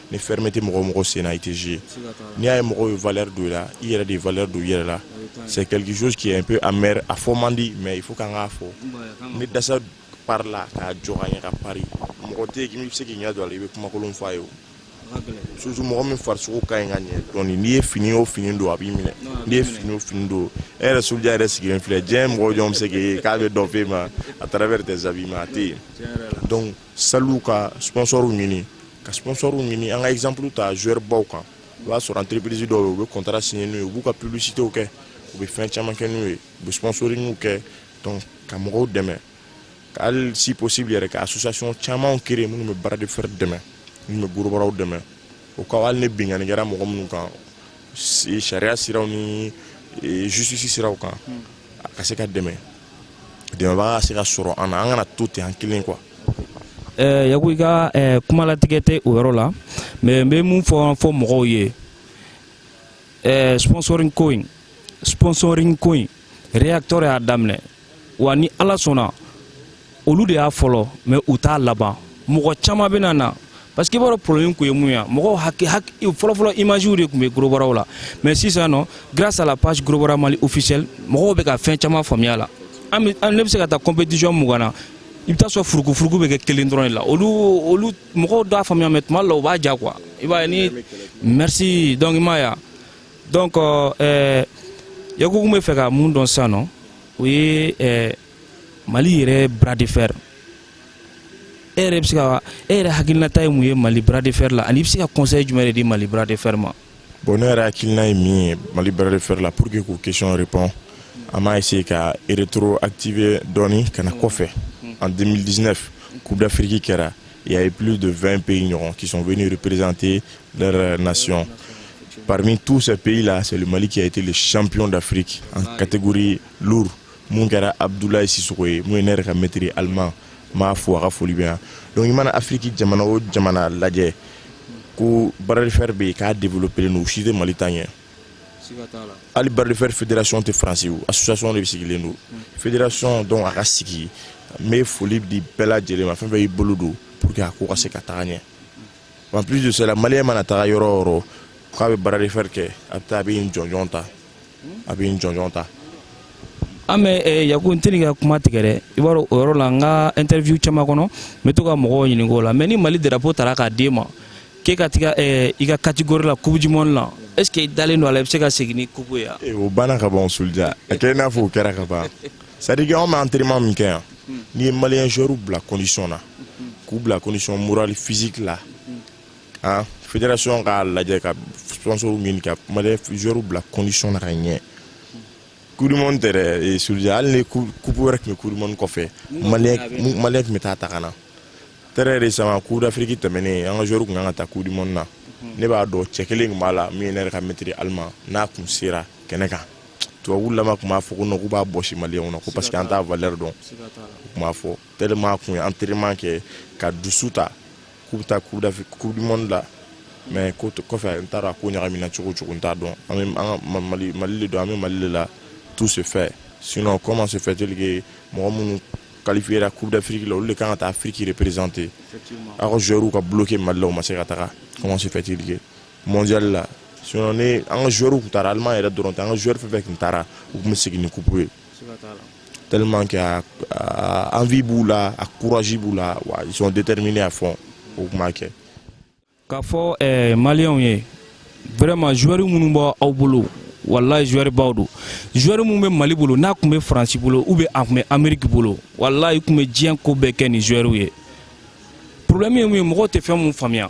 ni fermé tɛ mɔgɔ mɔgɔ sen na i tɛ jouer n'i y'a ye mɔgɔw ye valeur don i la i yɛrɛ de ye valeur don i yɛrɛ la c'est quelque chose qui est un peu amer a fɔ man di mais il faut k'an k'a fɔ ni dasa pari la k'a jɔ ka ɲɛ ka pari mɔgɔ tɛ yen min bɛ se k'i ɲɛ don a la i bɛ kumakolon fɔ a ye o surtout mɔgɔ min farisogo ka ɲi ka ɲɛ dɔɔni n'i ye fini o fini don a b'i minɛ n'i ye fini o fini don e yɛrɛ soja yɛrɛ sigilen filɛ diɲɛ mɔgɔ jɔn bɛ se k'e ye k'a bɛ dɔ f'e ma à travers tes habillements a tɛ yen donc saliw ka sponsɔrw ɲini ka sponsɔrw ɲini an ka exemple ta joueur baw kan o b'a sɔrɔ entreprise dɔw ye u bɛ contrat signer n'u ye u b'u ka publicitew kɛ u bɛ fɛn caman kɛ n'u ye u bɛ sponsoringiw kɛ donc ka mɔgɔw dɛmɛ ka hali si possible yɛrɛ ka association camanw créer minnu bɛ bras de fer dɛmɛ minnu bɛ gorobaraw dɛmɛ o ka hali ni binkanni kɛra mɔgɔ minnu kan sariya siraw ni justice siraw kan a ka se ka dɛmɛ dɛmɛbaga ka se ka sɔrɔ an na an kana to ten an kelen quoi yaku i ka kumalatigɛ tɛ o yɔrɔ la mais n bɛ mun fɔ fɔ mɔgɔw ye sponsoring ko in sponsoring ko in réacteur y'a daminɛ wa ni ala sɔnna olu de y'a fɔlɔ mais u t'a laban mɔgɔ caman bɛna na parce que i b'a dɔn problème kun ye mun ye mɔgɔw haki haki fɔlɔfɔlɔ imagew de tun bɛ gorobaraw la mais sisan nɔ grâce à la page gorobara mali officielle mɔgɔw bɛ ka fɛn caman faamuya la an bɛ an ne bɛ se ka taa compétition mugan na i bɛ t'a sɔrɔ furukufuruku bɛ kɛ kelen dɔrɔn de la olu olu mɔgɔw t'a faamuya mais tuma dɔ la u b'a ja quoi i b'a ye ni merci donc i m'a ye wa donc ɛɛ yaku n b'a fɛ ka mun dɔn sisan nɔ o ye ɛɛ mali yɛrɛ bras de fer e yɛrɛ bɛ se ka e yɛrɛ hakilinata ye mun ye mali bras de fer la ani i bɛ se ka conseil jumɛn de di mali bras de fer ma. bon ne yɛrɛ hakilina ye min ye mali bras de fer la pour que k'o question répond an b'a essayer ka rétroactiver dɔɔni ka na kɔfɛ en 2019 coupe d'afrique kɛra il y a eu plus de 20 pays ɲɔgɔn qui sont venus représenter Leur euh, nation. Parmi tous ces pays-là, c'est le Mali qui a été le champion d'Afrique en catégorie lourde. mun kɛra abdoulaye sisoko ye mun ye ne yɛrɛ ka maître allemand n b'a fo a ka foli bɛ yan donc i mana afiriki jamana o jamana lajɛ ko bras de fer bɛ yen k'a développelen don u si tɛ mali ta ɲɛ hali bras de fer fédération tɛ faransi o association de sigilen don fédération donc a ka sigi n bɛ foli di bɛɛ lajɛlen ma fɛn fɛn y'i bolo don pour que a ko ka se ka taga ɲɛ en plus de cela maliyɛn mana taga yɔrɔ o yɔrɔ k'a bɛ bras de fer kɛ a bɛ taa a bɛ nin jɔnjɔn ta a bɛ nin jɔnjɔn ta an bɛ eh, yaku n tɛn'i ka kuma tigɛ dɛ i b'a dɔn o yɔrɔ la n ka interview caman kɔnɔ n bɛ to ka mɔgɔw ɲininka o la mais ni mali drapeau tara k'a d'e ma k'e ka taga eh, i ka catégorie la coupe du monde la est ce que i dalen don a la i bɛ se ka segin ni coupe ye wa eh, o banna ka ban o soldiya a kɛ i n'a fɔ o kɛra ka ban sadike anw bɛ antrema min kɛ yan n'i ye maliyɛn zɔriw bila kɔndisɔn na k'u bila kɔndisɔn morali fisiki la an federasiyɔn k'a lajɛ ka sponsor ɲini ka maliyɛn zɔriw bila kɔndisɔn na ka ɲɛ kudimɔni tɛ dɛ surujɛ hali ni kupu wɛrɛ tun bɛ kudimɔni kɔfɛ maliyɛn tun bɛ taa ta ka na tɛrɛ de sama kupu d'afiriki tɛmɛnen an ka zɔriw tun kan ka taa kudimɔni na ne b'a dɔn cɛ kelen tun b'a la min ye ne yɛrɛ ka mɛtiri alima n'a kun sera kɛnɛ kan tubabu lama tun b'a fɔ ko k'u b'a bɔsi maliyɛnw na ko parce que an t'a valeur dɔn u tun b'a fɔ tellement a tun ye entraînement kɛ ka dusu ta k'u bɛ taa coupe du monde la mais ko kɔfɛ n t'a dɔn a ko ɲagamina cogo o cogo n t'a dɔn an bɛ an ka mali mali de don an bɛ mali de la tout se fait sinon comment se fait-il que mɔgɔ minnu qualifiera coupe d'afrique la olu de kan ka taa afiriki représenter aw ka joueurs ka bloquer mali la u ma se ka taga comment se fait-il que mondial la sinon ni an ka joueurs tun taara Allemand yɛrɛ dɔrɔn tɛ an ka joueurs fɛn fɛn tun taara u tun bɛ segin ni coupe ye tellement que a, a envie b'u la a courage b'u la wa ils sont déterminés à fond u tun b'a kɛ k'a fɔ eh, maliyɛnw ye vraiment joueurs minnu b'aw bolo walayi joueur baw don joueur min bɛ mali bolo n'a tun bɛ faransi bolo ou bien a tun bɛ ameriki bolo walayi tun bɛ diɲɛ ko bɛɛ kɛ ni joueur ye problème ye mun ye mɔgɔw tɛ fɛn min faamuya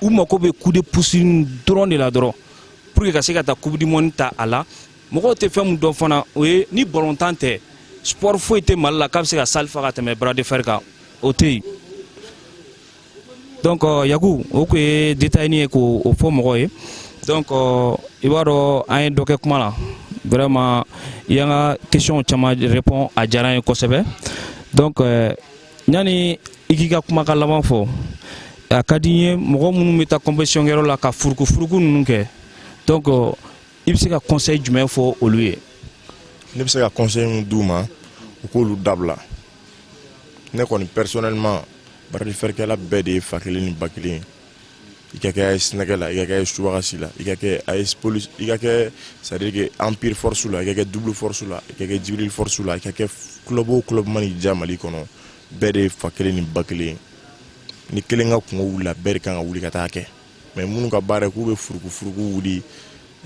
u mako bɛ coup de pouce nin dɔrɔn de la dɔrɔn pour que ka se ka taa coupe du monde ta a la mɔgɔw tɛ fɛn min dɔn fana o ye ni balɔntan tɛ sport foyi tɛ mali la k'a bɛ se ka salle fa ka tɛmɛ bras de fer kan o tɛ yen donc euh, yaku o tun ye détail ye k'o fɔ mɔgɔw ye donc euh, i b'a dɔn an ye dɔ kɛ kuma la vraiment i y'an ka question caman répond a diyara n ye kosɛbɛ donc euh, yani i k'i ka kumakan laban fɔ a ka di n ye mɔgɔ minnu bɛ taa compétition kɛyɔrɔ la ka furukufuruku ninnu kɛ donc i bɛ se ka conseil jumɛn fɔ olu ye ne bɛ se ka conseil min d'u ma u k'olu dabila ne kɔni personnellement bras de fer kɛla bɛɛ de ye fa kelen ni ba kelen ye i ka kɛ AS nɛgɛ la i ka kɛ AS subagasi la i ka kɛ AS police i ka kɛ c'est à dire que empire force la i ka kɛ double force la i ka kɛ jibril force la i ka kɛ club o club mana i diya mali kɔnɔ bɛɛ de ye fa kelen ni ba kelen ni kelen ka kunko wulila bɛɛ de kan ka wuli ka taa kɛ mais minnu ka baara k'u bɛ furukufuruku wuli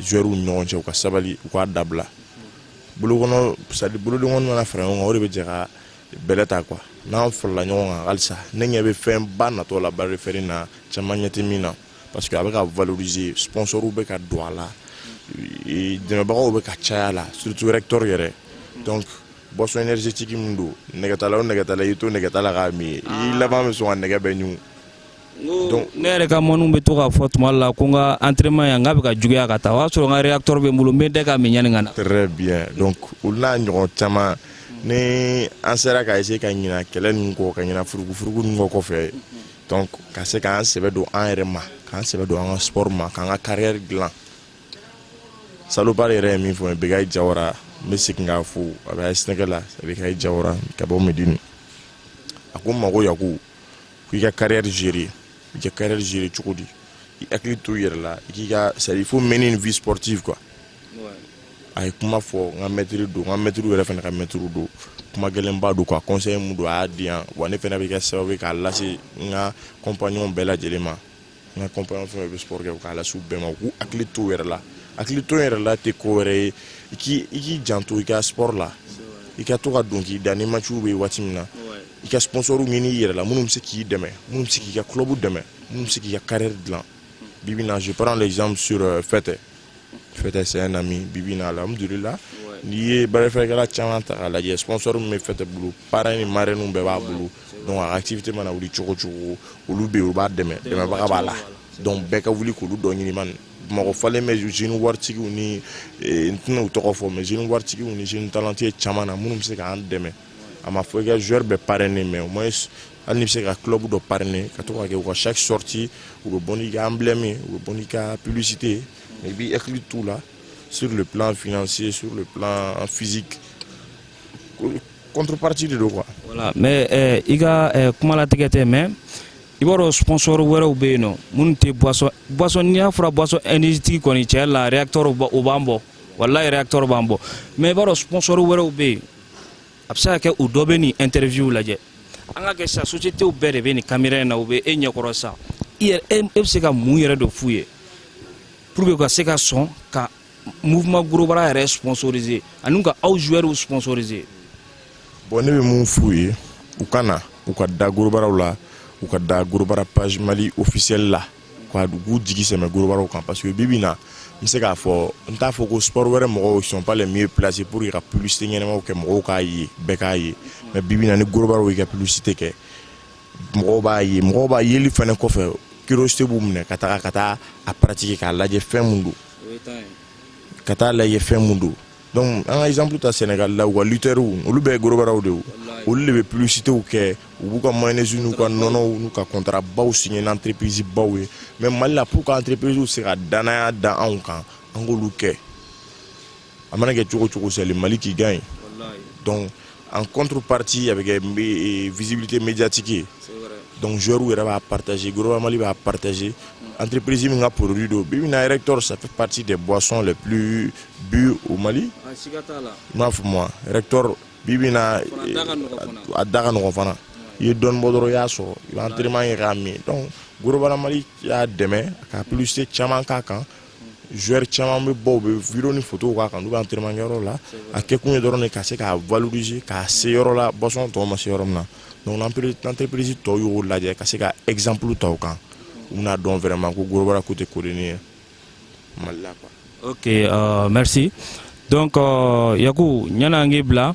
joueurs ni ɲɔgɔn cɛ u ka sabali u k'a dabila bolokɔnɔ c'est à dire bolodenkɔni mana fara ɲɔgɔn kan o de bɛ jɛ ka bɛlɛ ta quoi n'an farala ɲɔgɔn kan halisa ne ɲɛ bɛ fɛn ba natɔ la bras de fer na caman ɲɛ tɛ min na parce que a bɛ ka valoriser sponsor bɛ ka don a la dɛmɛbagaw bɛ ka caya la surtout reaktor yɛrɛ donc boisson énergétique min don nɛgɛtala o nɛgɛtala i to nɛgɛtala k'a min i laban bɛ sɔn ka nɛgɛ bɛɛ ɲun Ne yɛrɛ ka mɔgɔw bɛ to k'a fɔ tuma la ko n ka entraînement yan n k'a bɛ ka juguya ka taa o y'a sɔrɔ n ka réacteur bɛ n bolo n bɛ de ka min yanni ka na très bien donc olu n'a ɲɔgɔn caman ni an sera ka essayer ka ɲina kɛlɛ nin kɔ ka ɲina furuku nin kɔ kɔfɛ ka se k'an sɛbɛ don an yɛrɛ ma k'an sɛbɛ don an ka sport ma k'an ka carrière dilan salopard yɛrɛ ye min fɔ Bekayi Jawara n bɛ segin k'a fɔ a bɛ AS Nɛgɛ la Bekayi Jawara ka bɔ Medini a ko n ma ko ya ko i ka carrière gérer i ka carrière gérer cogo di i hakili to i yɛrɛ la i k'i ka c'est à dire il faut mener une vie sportive quoi a ye kuma fɔ n ka maître don n ka maître yɛrɛ fana ka maître don kuma gɛlɛnba don quoi conseil mun don a y'a di yan wa ne fana bɛ kɛ sababu ye k'a lase n ka compagnons bɛɛ lajɛlen ma n ka compagnon fɛn fɛn bɛ sport kɛ k'a lase u bɛɛ ma u k'u hakili to u yɛrɛ la hakili to yɛrɛ la tɛ ko wɛrɛ ye i k'i i k'i janto i ka sport la i ka to ka don k'i da ni matchw bɛ waati min na i ka sponsor ɲini i yɛrɛ la minnu bɛ se k'i dɛmɛ minnu bɛ se k'i ka club dɛmɛ minnu bɛ se k'i ka carrière dilan bi bi na je prends l'exemple sur euh, Fɛtɛ Fɛtɛ c'est un ami bibi na alhamdulila n'i ye bras de fer kɛla caman ta k'a lajɛ sponsor min bɛ Fɛtɛ bolo parrain ni marraine bɛɛ b'a bolo donc a ka activité mana wuli cogo cogo olu bɛ yen u b'a dɛmɛ dɛmɛbaga b'a la donc bɛɛ ka wuli k'olu dɔ ɲini Bamakɔ falen bɛ jeune waritigiw ni eh, n tɛna u tɔgɔ fɔ mais jeune waritigiw ni jeune talentueux caman na minnu bɛ se k'an dɛmɛ a ma fɔ i ka joueur bɛɛ parrainer mais au moins hali n'i bɛ se ka club dɔ parrainer ka to ka kɛ u ka chaque sortie u bɛ bɔ n'i ka emblème u bɛ bɔ n'i ka publicité mais i b'i hakili t'u la sur le plan financier sur le plan physique contrepartie de don quoi. voilà mais eh, i ka eh, kuma latigɛ tɛ mais i b'a dɔn sponsor wɛrɛw bɛ yen nɔ minnu tɛ boisson boisson ni a fɔra boisson énergétique kɔni tiɲɛ la réacteur o b'an bɔ walayi réacteur b'an bɔ mais i b'a dɔn sponsor wɛrɛw bɛ yen a bɛ se ka kɛ u dɔ bɛ nin interview lajɛ an k'a kɛ sa sociétéw bɛɛ de bɛ nin caméra in na u bɛ e ɲɛkɔrɔ sa e bɛ se ka mun yɛrɛ de f'u ye pour que u ka se ka sɔn ka mouvement gorobara yɛrɛ sponsoriser ani ka aw joueurs sponsoriser bon ne bɛ mun f'u ye u ka na u ka da gorobaraw la u ka da gorobara page mali officiel la ka da u k'u jigi sɛmɛ gorobaraw kan parce que bibi na n bɛ se k'a fɔ n t'a fɔ ko sport wɛrɛ mɔgɔw sont pas les mieux placés pour ka publicité ɲɛnamaw kɛ mɔgɔw k'a ye bɛɛ k'a ye mais bibi na ni gorobaraw y'i ka publicité kɛ mɔgɔw b'a ye mɔgɔw b'a yeli fana kɔfɛ curiosité b'u minɛ ka taga ka taa a pratiquer k'a lajɛ fɛn mun don ka taa lajɛ fɛn mun don donc an ka exemple ta Sénégal la u ka lutteurs olu bɛɛ ye gorobaraw de ye olu de bɛ publicitéw kɛ u b'u ka mayonnaise n'u ka nɔnɔw n'u ka contrat baw signé ni entreprise baw ye mais Mali la pour que entreprisew se ka danaya da anw kan an k'olu kɛ a mana kɛ cogo cogo c'est le Mali qui gagne donc en contrepartie a bɛ kɛ eh, visibilité médiatique ye donc joueur yɛrɛ b'a partager gorobara mali b'a partager entreprise min ka produit don bi bi in na rector ça fait partie des boissons les plus bues au mali ah, i m'a faamuya rector bi bi in na a da ka nɔgɔn fana i ye dɔɔni bɔ dɔrɔn i y'a sɔrɔ i bɛ entraînement kɛ k'a min donc gorobara mali y'a dɛmɛ ka publicité caman k'a kan joueur caman bɛ bɔ u bɛ video ni photo k'a kan n'u bɛ entraînement kɛyɔrɔ la a kɛkun ye dɔrɔn de ka se k'a valoriser k'a se yɔrɔ la boisson tɔw ma se yɔrɔ min na donc entreprise tɔw y'o lajɛ ka se ka exemple ta o kan u bɛna dɔn vraiment ko gorobara ko tɛ kodennin ye mali la quoi. ok uh, merci donc uh, yaku ɲan'an k'i bila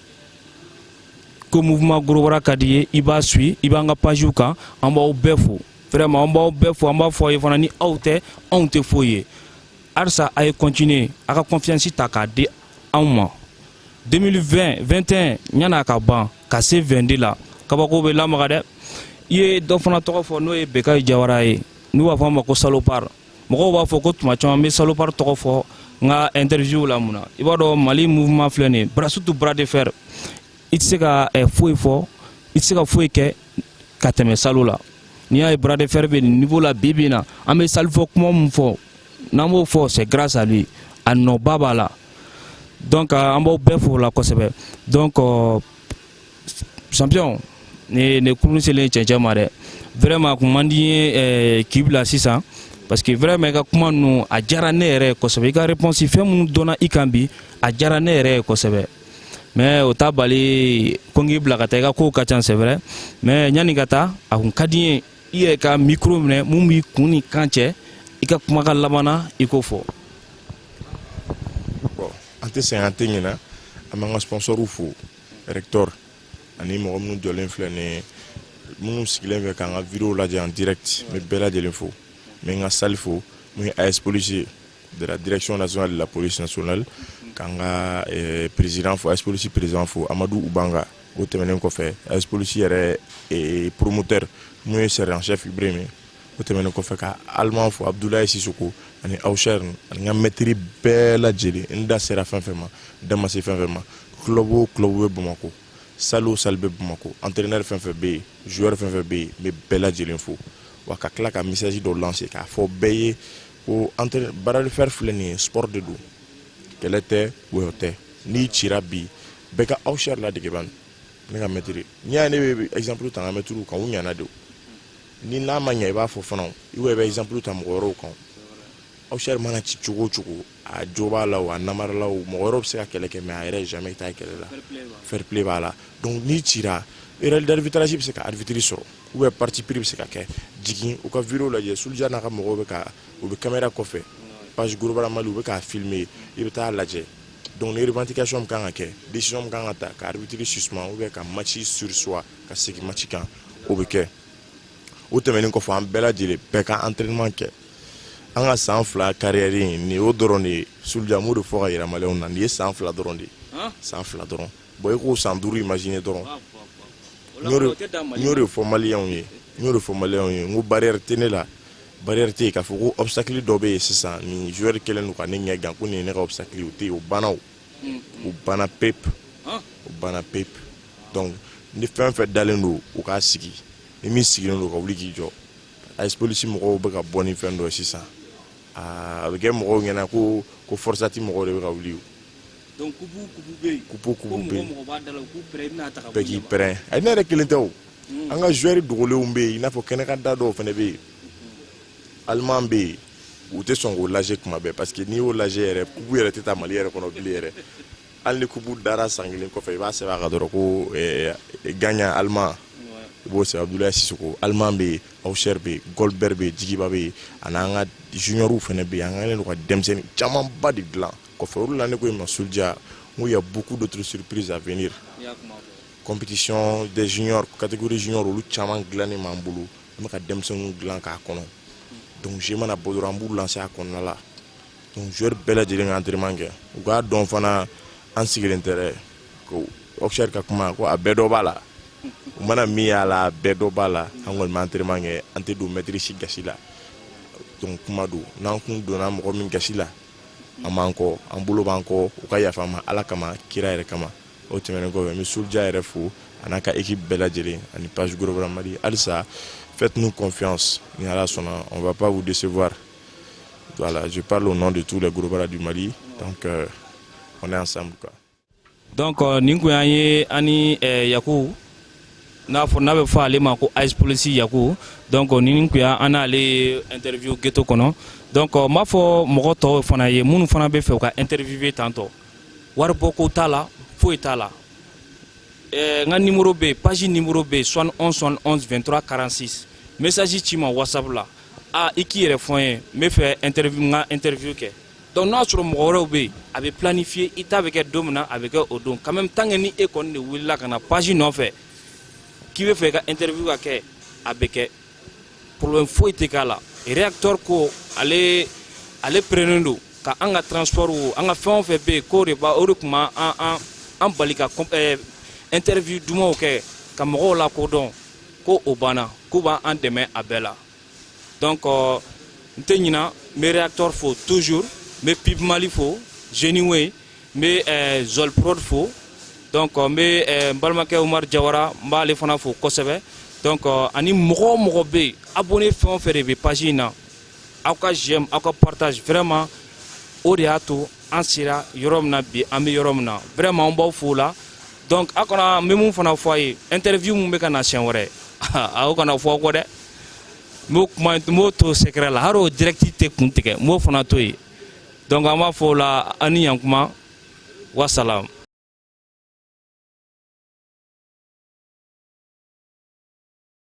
ko mouvement gorobara ka d'i ye i b'a suit i b'an ka pagew kan an b'aw bɛɛ fo vraiment an b'aw bɛɛ fo an b'a fɔ aw ye fana ni aw tɛ anw tɛ foyi ye halisa a ye continuer a ka confiance ta k'a di anw ma 2020 21 ɲan'a ka ban ka se 22 la kabako bɛ lamaga dɛ i ye dɔ fana tɔgɔ fɔ n'o ye bekayi jawara ye n'u b'a fɔ a ma ko salopard mɔgɔw b'a fɔ ko tuma caman n bɛ salopard tɔgɔ fɔ n ka interview la mun na i b'a dɔn mali mouvement filɛ nin ye bras surtout bras de fer i tɛ se ka eh, foyi fɔ i tɛ se ka foyi kɛ ka tɛmɛ salo la n'i y'a ye bras de fer bɛ nin niveau la bi bi in na an bɛ salifɔ kuma min fɔ n'an b'o fɔ c'est grâce à lui a nɔba b'a la donc an b'aw bɛɛ fo o la kosɛbɛ donc euh, champion ne ne kurun selen cɛncɛn ma dɛ vraiment a kun man di n ye eh, k'i bila sisan parce que vraiment i ka kuma ninnu a diyara ne yɛrɛ ye kosɛbɛ i ka réponse fɛn minnu donna i kan bi a diyara ne yɛrɛ ye kosɛbɛ mais o t'a bali ko n k'i bila ka taa i ka kow ka ca c'est vrai mais yanni ka taa a kun ka di n ye i yɛrɛ ka micro minɛ mun b'i kun ni kan cɛ i ka kumakan laban na i k'o fɔ an tɛ sɛgɛn an tɛ ɲinɛ an b'an ka sponsorw fo rector ani mɔgɔ minnu jɔlen filɛ nin ye minnu sigilen fɛ k'an ka video lajɛ en direct n bɛ bɛɛ lajɛlen fo n bɛ n ka salle fo mun ye AS police ye de la direction nationale de la police nationale k'an ka eh, président fo AS police président fo Amadu Ubanga o tɛmɛnen kɔfɛ AS police yɛrɛ eh, promoteur mun ye sergent chef Ibrahim ye o tɛmɛnen kɔfɛ ka allemand fo abudulayi sisoko ani awusɛri ani n ka maître bɛɛ lajɛlen n da sera fɛn fɛn ma n da ma se fɛn fɛn ma club o club bɛ bamakɔ salle o salle bɛ bamakɔ entraîneur fɛn fɛn bɛ yen joueur fɛn fɛn bɛ yen n bɛ bɛɛ lajɛlen fo wa ka tila ka message dɔ lancer k'a fɔ bɛɛ ye ko bras de fer filɛ nin ye sport de don kɛlɛ tɛ wɔyɔ tɛ n'i cira bi bɛɛ ka awusɛri ladege bani ne ka maître n'i y'a ye ne bɛ exemple ta n ka maîtrew kan u ɲana de o ni n'a ma ɲɛ i b'a fɔ fana i bɛ bɛ exemple ta mɔgɔ wɛrɛw kan Awcher mana ci cogo o cogo a jo b'a la a namara la mɔgɔ wɛrɛw bɛ se ka kɛlɛ kɛ mais a yɛrɛ jamais t'a kɛlɛ la fair play b'a la donc n'i cira erreur d'arbitrage bɛ se ka arbitre sɔrɔ ou bien parti pris bɛ se ka kɛ jigin u ka vidéo lajɛ Soulja n'a ka mɔgɔw bɛ ka u bɛ caméra kɔfɛ page Gros Bras Mali u bɛ k'a filmer i bɛ taa lajɛ donc ni revendication min kan ka kɛ décision min kan ka ta ka arbitre suspend ou bien ka match surseoir ka segin match kan o bɛ kɛ o tɛmɛnen kɔfɛ an bɛɛ lajɛlen bɛɛ ka entraînement kɛ an ka san fila carrière in nin y'o dɔrɔn de ye Soulja n b'o de fɔ ka yira maliyɛnw na nin ye san fila dɔrɔn de ye san fila dɔrɔn bon i k'o san duuru imaginer dɔrɔn n y'o de fɔ maliyɛnw ye n y'o de fɔ maliyɛnw ye n ko barrière tɛ ne la barrière tɛ yen k'a fɔ ko obstacle dɔ bɛ yen sisan nin joueur kɛlen don ka ne ɲɛ gan ko nin ye ne ka obstacle ye o tɛ yen o banna o o banna pepe o banna pepe donc ni fɛn fɛn dalen don u k'a sigi ni min sigilen don ka wuli k'i jɔ AS polisi mɔgɔw bɛ ka bɔ ni fɛn dɔ ye sisan a bɛ kɛ mɔgɔw ɲɛna ko ko Forsat mɔgɔw de bɛ ka wuli kupu kupu bɛ yen bɛɛ k'i pɛrɛn a ne yɛrɛ kelen tɛ o an ka joueur dogolenw bɛ yen i n'a fɔ kɛnɛkanda dɔw fana bɛ yen Allemand bɛ yen u tɛ sɔn k'o lajɛ kuma bɛɛ parce que n'i y'o lajɛ yɛrɛ kupu yɛrɛ tɛ taa mali yɛrɛ kɔnɔ bilen yɛrɛ hali ni kupu dara san kelen kɔfɛ i b'a sɛbɛn a kan dɔrɔn ko eh, gagnant Allemand i b'o sɛbɛn abudulayi sisoko Allemand bɛ yen Awcher bɛ yen Goldberg bɛ yen jigiba bɛ yen ani an ka juniorw fana bɛ yen an kɛlen don ka denmisɛnnin camanba de dilan kɔfɛ olu la ne ko ma Soulja n ko y a beaucoup d'autres surprises à venir compétition des juniors catégorie junior olu caman dilannen b'an bolo an bɛ ka denmisɛnninw dilan k'a kɔnɔ donc jeu mana bɔ dɔrɔn an b'u lancer a kɔnɔna la donc joueur bɛɛ lajɛlen ka entraînement kɛ u k'a dɔn fana an sigilen tɛ dɛ ko Awcher ka kuma ko a bɛɛ dɔ b'a la u mana min y'a la a bɛɛ dɔ b'a la an kɔni bɛ entraînement kɛ an tɛ don maître si gasi la donc kuma don n'an kun donna mɔgɔ min gasi la an b'an kɔ an bolo b'an kɔ u ka yafa an ma Ala kama kira yɛrɛ kama o tɛmɛnen kɔfɛ n bɛ Soulja yɛrɛ fo a n'a ka équipe bɛɛ lajɛlen ani page Gros Bras mali halisa faites nous confiance ni ala sɔnna on va pas vous décevoir voilà je parle au nom de tous les gros bras du mali donc euh, on est ensemble quoi donc euh, nin kun y'an ye an ni euh, yaku n'a fɔ n'a bɛ fɔ ale ma ko AS Police yaku donc euh, nin kun y'an n'ale interview ghetto kɔnɔ donc n b'a fɔ mɔgɔ tɔw fana ye minnu fana bɛ fɛ u ka interviewer tantɔ wari bɔ ko t'a la foyi t'a la eh, n ka numéro bɛ yen page numéro bɛ yen 71 71 23 46 message ci n ma whatsapp la a i k'i yɛrɛ fɔ n ye n bɛ fɛ interview n ka interview kɛ donc n'a sɔrɔ mɔgɔ wɛrɛw bɛ yen a bɛ planifier i ta bɛ kɛ don min na a bɛ kɛ o don quand même tant que ni e kɔni de wulila ka na page nɔfɛ k'i bɛ fɛ i ka interview ka kɛ a bɛ kɛ problème foyi tɛ k'a la réacteur ko ale ale prennen don ka an ka transport wo an ka fɛn o fɛn bɛ yen k'o de b'a o de tun b'an an an bali ka eh, interview dumanw kɛ ka mɔgɔw lakodɔn ko o banna k'u b'an dɛmɛ a bɛɛ la donc euh, n tɛ ɲina n bɛ réacteur fo toujours n bɛ pib mali fo génie wey n bɛ eh, zol prod fo donc n bɛ eh, n balimakɛ umaru jawara n b'ale fana fo kosɛbɛ donc eh, ani mɔgɔ o mɔgɔ bɛ yen abonné fɛn o fɛn de bɛ page in na aw ka j'aime aw ka partage vraiment o de y'a to an sera yɔrɔ min na bi an bɛ yɔrɔ min na vraiment an b'aw fo la donc aw kana n bɛ mun fana fɔ a ye interview min bɛ ka na siɲɛ wɛrɛ aw kana fɔ kɔ dɛ n b'o kuma n b'o to secret la hali o direct tɛ kun tigɛ n b'o fana to yen donc an b'a fɔ o la an ni yan kuma wasalam